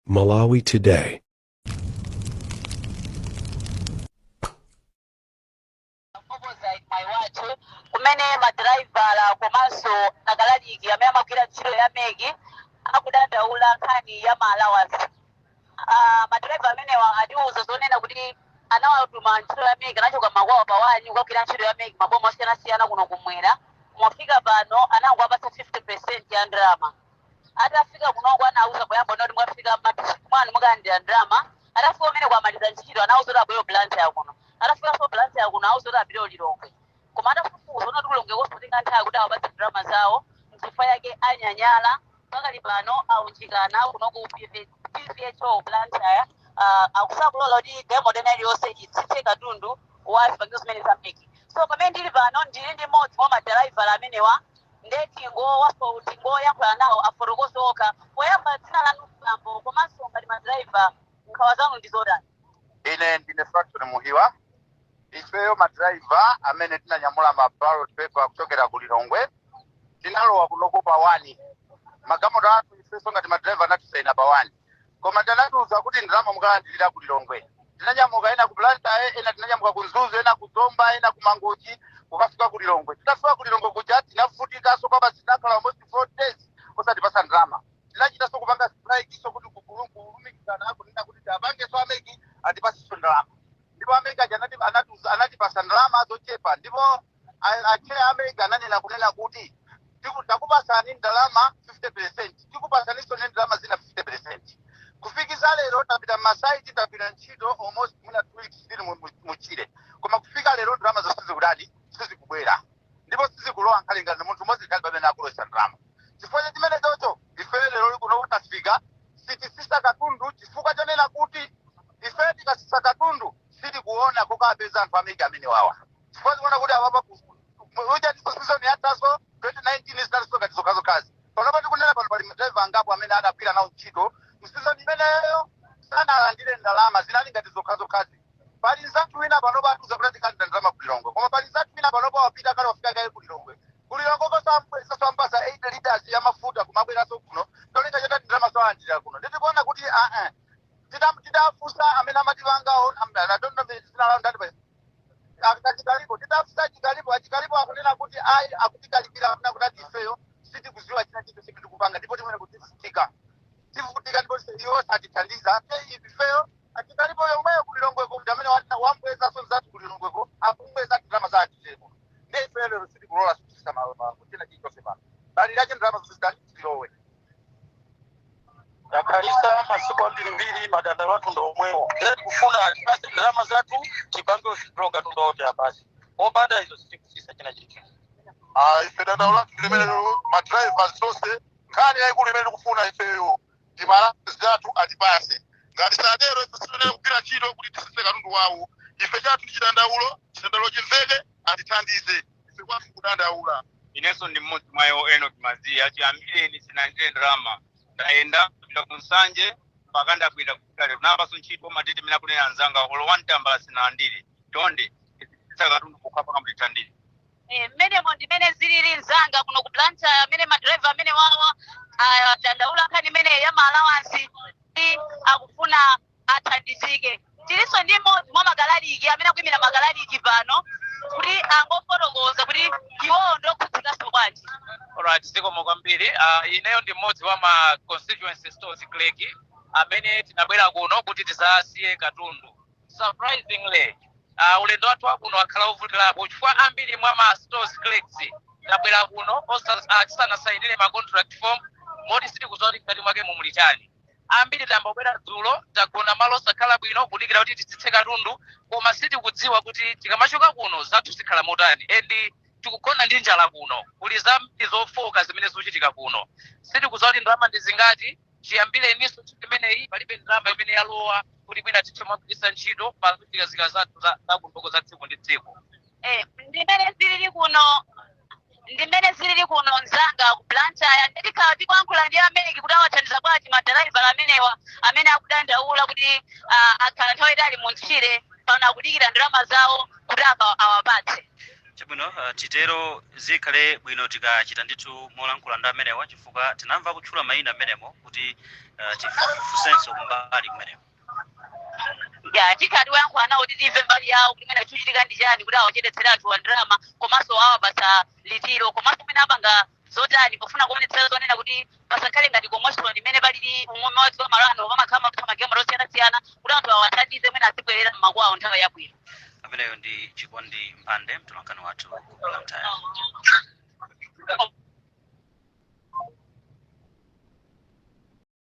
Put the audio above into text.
Malawi Today. opposite my wathu kumene madraiva komanso akalaliki amene amagwira ntchito ya MEC akudandaula nkhani ya maalawansi uh, madraiva amenewa atiuza zonena kuti anawatuma ntchito ya MEC anachoka makwawo pa 1 kukagwira ntchito ya MEC maboma osiyanasiyana kuno kumwera kufika pano anangowapatsa 50 percent ya ndalama atafika kunoko anauza poyamba zoti mwafika m'madistrict mwanu mukalandira ndalama atafika umene kwamaliza ntchito anauza kuti abwere Blantyre kuno atafikanso Blantyre kuno auza kuti apite ku Lilongwe koma atafufuza kuti ku Lilongwe kutenga nthawi kuti awapatse ndalama zawo nchifukwa yake anyanyala pakali pano aunjikana kuno ku PVHO blantyre sakulola kuti demo dena iliyonse itsitse katundu wa zipangizo zimene za MEC so pamene ndili pano ndili ndi mmodzi mwa madraiva amenewa nde tingowaso tingoyankhula nawo afotokoze wokha poyamba dzina lanu bambo komanso ngati madriver nkhawa zanu ndi zotani ine ndine Fractone muhiwa ifeyo madraiva amene tinanyamula ma ballot paper kuchokera ku lilongwe tinalowa kunoko pa 1 magalimoto athu ifeso ngati madraiva anatisaina pa 1 koma anatiuza kuti ndalama mukalandilira ku lilongwe tinanyamuka ena ku blantyre ena tinanyamuka ku mzuzu ena ku zomba ena ku mangochi kukafika ku lilongwe titafika ku lilongwe kuja tinavutikaso kwabasi tinakhala almost four days osatipasa ndalama tinachitaso kupanga strikeso kuti kukulu- kulumikizana kunena kuti tipangeso a MEC atipaseso ndalama ndipo a MEC aja anati- anatiuza- anatipasa ndalama zochepa ndipo a- achair a MEC ananena kunena kuti tiku- takupasani ndalama 50 percent tikupasaninso ne ndalama zina 50 percent kufikisa lero tapita masaiti tapita ntchito almost mwina two weeks tili mu- mu- mtchire koma kufika lero ndalama zonse sizikudati sizikubwera ndipo sizikulowa nkhale ndi munthu mmodzi pakali pamene akulowesa ndalama chifukwa cha chimene chocho ife lero lino kutafika sitisisa katundu chifukwa chonena kuti ife tikasisa katundu sitikuona kokapeza anthu a MEC amenewawa chifukwa tikuona kuti apapa ujeni season yathaso 2019 zinalinso ngati zokhazokhazi panopa tikunena pano pali madriver angapo amene adagwira nawo ntchito mu season imeneyo sanalandire ndalama zinali ngati zokhazokhazi pali nzathu wina panopa atiuza kuti tikalandira ndalama kulilongwe koma pali nzathu wina panopa wapita kale wafika kale kulilongwe kulilongwe akumpasa 8 liters ya mafuta kumabweranso kuno cholinga choti ndalama zolandira kuno nde tikuona kuti aa tidafusa amene amatipangawo I don't know dzina lawo ndati achikalipo titafusa achikalipo achikalipo akunena kuti ayi akutikalipira akunena kuti ifeyo sitikuziwa china chinthu chimene tikupanga ndipo mmene tivutika tivutika ndipo iwo satithandiza Ate ifeyo achikalipo yomweyo kulilongweko kuti amene wa- wambwezaso nzathu kulilongweko akumbweza ndalama za achitepo ndi ifeyo lero sitikulola sitisisa malo pano china chilichonse pano pakalipano ndalama zisanatilowe takhalitsa masiku ambirimbiri madandaulo athu ndi omwewo ere tikufuna atipase ndalama zathu tipange ushidro katundu oti apasi opanda izo sititsitsa china chilichonse Ah, ife dandaulo lathu limenelo madriver tonse nkhani yayikulu imene tikufuna ifeyo ndi ndalama zathu atipase ngati sadero ife simenene kugwira ntchito kuti titsitse katundu wawo ife chathu ndi chidandaulo chidandaulo chimveke atithandize ife kwathu kudandaula inenso ndi mmodzi mwa iwo enock maziya chiyambireni sindinalandire ndalama ndayenda kupita ku nsanje mpaka ndabwera kufika lero napaso ntchito matete mene akunena anzanga olo wani tambala sindinalandire chonde sititsitsa katundu pokhapokha mutithandize Eh, mmenemo ndimene zilili mzanga kuno ku blantyre amene madriver amenewa akudandaula nkhani imene ya maalawansi akufuna athandizike. Tilinso ndi mmodzi mwa makalaliki amene akuimira makalaliki pano kuti angofotokoza kuti iwowo ndi okhudzikanso bwanji. Alright, zikomo kwambiri. Uh, ineyo ndi mmodzi wa ma constituency stores clerk amene tinabwera kuno kuti tidzasiye katundu. Surprisingly, uh, ulendo wathu wakuno wakhala wovutirapo chifukwa ambiri mwa ma stores clerks tabwera kuno osa- ah, tisanasayinire ma contract form moti sitikudziwa kuti mkati mwake mumuli chani. ambiri tayamba kubwera dzulo tagona malo osakhala bwino kudikira kuti titsitse katundu koma sitikudziwa kuti tikamachoka kuno zathu zikhala motani and tikugona ndi njala kuno kuli zambiri zofoka zimene zikuchitika kuno sitikudziwa kuti ndalama ndi zingati chiyambireninso ntchito imeneyi palibe ndalama imene yalowa kuti mwina tithe kugwiritsa ntchito pa zochitika zathu za za kuno za tsiku ndi tsiku Eh, ndimene zilili kuno ndimene zilili kuno mzanga ku blantyre tikhala tikuyankhula ndi a mec kuti awathandiza bwanji madalaivala amenewa amene akudandaula kuti ah, akhala nthawi yaitali mu tchire pano akudikira ndalama zawo kuti aka- awapatse chabwino uh, titero zikhale bwino tikachita ndithu molankhula ndi amenewa chifukwa tinamva akutchula mayina amenemo kuti uh, tifusenso mbali kumeneko ya tikhala tiwayankhula nawo kuti timve mbali yawo kuti kumene chikuchitika ndi chani kuti awachedetsere anthuwa ndalama komanso awapatsa liti komanso kumene apanga zotani pofuna kuonetsetsa zonena kuti pasakhale ngati komoshoni imene ilipo umweme wa dziko malano pamakhala mapatsa magemu osiyanasiyana kuti anthu awathandize mwina azibwerera mmakwawo nthawi yabwino ameneyo ndi chikondi mphande mtolankhani wathu ku blantyre